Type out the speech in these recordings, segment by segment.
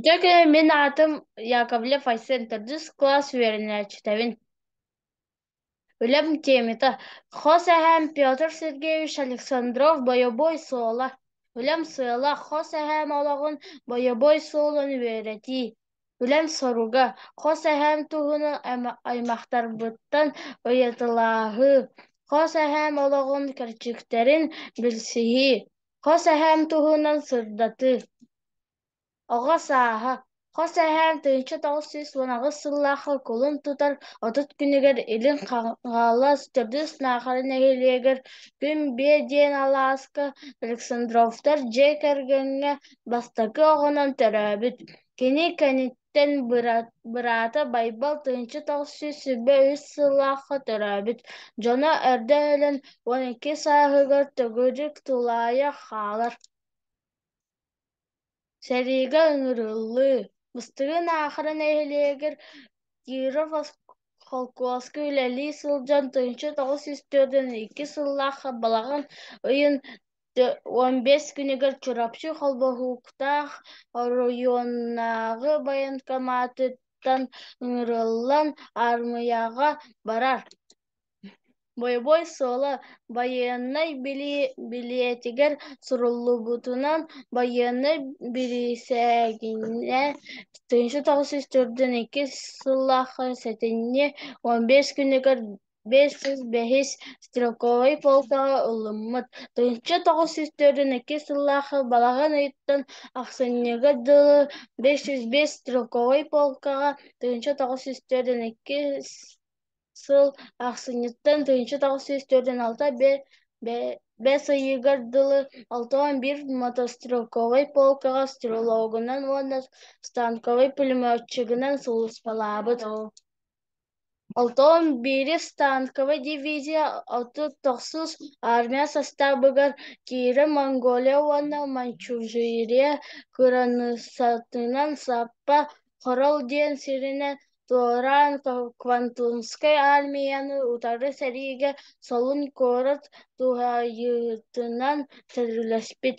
Дьэ кини мин аатым Яковлев Айсен төрдүс кылаас үөрэнээччитэбин. Үлэм темата хос эһээм Петр Сергеевич Александров бойобуой суола. Үлэм сыала хос эһээм олоҕун бойобуой суолун үөрэтии. Үлэм соруга хос эһээм туһунан айма- аймахтарбыттан ыйытылааһыы. Хос эһээм олоҕун кэрчиктэрин билсиһии. Хос эһээм туһунан сырдатыы. Оҕо сааһа. Хос эһээм тыынча тоҕус сүүс уон аҕыс сыллаахха кулун тутар отут күнүгэр Илин Хаҥалас төрдүс Наахара нэһилиэгэр күн биэ диэн алааска Александровтар дьиэ кэргэҥҥэ бастакы оҕонон төрөөбүт. Кини кэнит Тэн быраата Байбал тыынча тахсыы сүбэ үс сыллаахха төрөөбүт дьоно эрдэ өлөн уон икки сааһыгар төгүрүк тулаайах хаалар. Сэриигэ ыҥырыллыы Быстыгын аахара нэһилиэгэр Киров холкуоска үлэлии сылдьан тыынча тоҕус сүүс төрдүн икки сыллаахха балаҕан ыйын уон бэс күнүгэр Чурапчы холбоһууктаах оройуоннааҕы военкоматыттан ыҥырыллан аармыйаҕа барар. Бойобуой суола байыаннай билиэтигэр суруллубутунан байыаннай бирисээгинэ тыһыынча тоҕус сүүс төрдүн иккис сыллаах сэтинньи уон бэс күнүгэр бэс сүүс бэһис стрелковай полкаҕа ылыммыт. Тыһыынча тоҕус сүүс төрүн икки сыллаахы балаҕан ыйыттан ахсынньыга дылы бэс сүүс бэс стрелковай полкаҕа тыһыынча тоҕус сүүс төрүн икки сыл ахсынньыттан тыһыынча тоҕус сүүс төрүн алта бэс ыйыгар дылы алта уон биир мотострелковай полкаҕа стрелогунан уонна станковай пулеметчигынан сулууспалаабыт. Онтон биирис танковай дивизия отут тохсус армия састаабыгар киирэ Монголия уонна Манчжурия кыраныыссатынан саппа Хорол диэн сиринэн туораан Квантунскай армияны утары сэриигэ Солун куорат туһайыытынан сөбүлэспит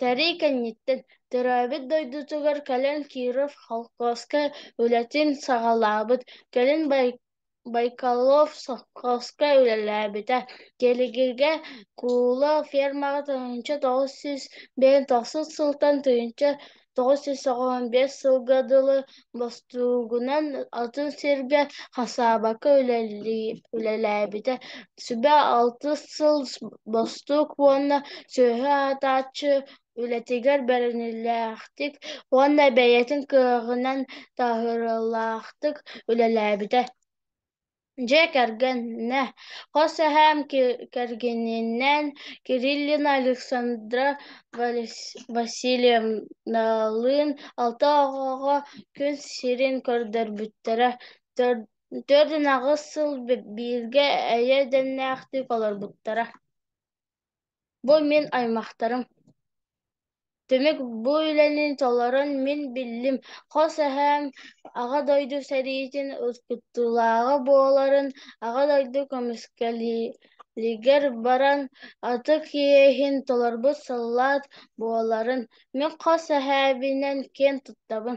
Тэрии кэнниттэн төрөөбүт дойдутугар кэлэн Киров холкуоска үлэтин саҕалаабыт, кэлин Бай- Байкалов совхозка үлэлээбитэ. Кэлигиргэ Кууло фермаҕа тыһыынча тоҕус сүүс биэс тохсус сылтан тыйынча тоҕус сүүс тоҕон биэс сылга дылы бостуугунан атын сиргэ хасаабака үлэлээбитэ. Сүбэ алтыс сыл бостуук уонна сүөһү аатааччы үлэтигэр бэринилээхтик уонна бэйэтин кыаҕынан таһырылаахтык үлэлээбитэ. Дьэ, кэргэннэ, хос эһээм ки- кэргэнинэн Кириллина Александра Валес- Васильевналыын алта оҕоҕо күн сирин көрдөрбүттэрэ. Төрт төрт ын аҕыс сыл б- бииргэ эйэ edэннээхтик олорбуттара. Бу мин аймахтарым. Түмүк бу үлэни толорон мин биллим. Хос эһээм Аҕа дойду сэриитин ускуттуулааҕа буоларын Аҕа дойду көмүскэлигэр баран ытык иэһин толорбут саллаат буоларын мин хос эһээбинэн киэн туттабын.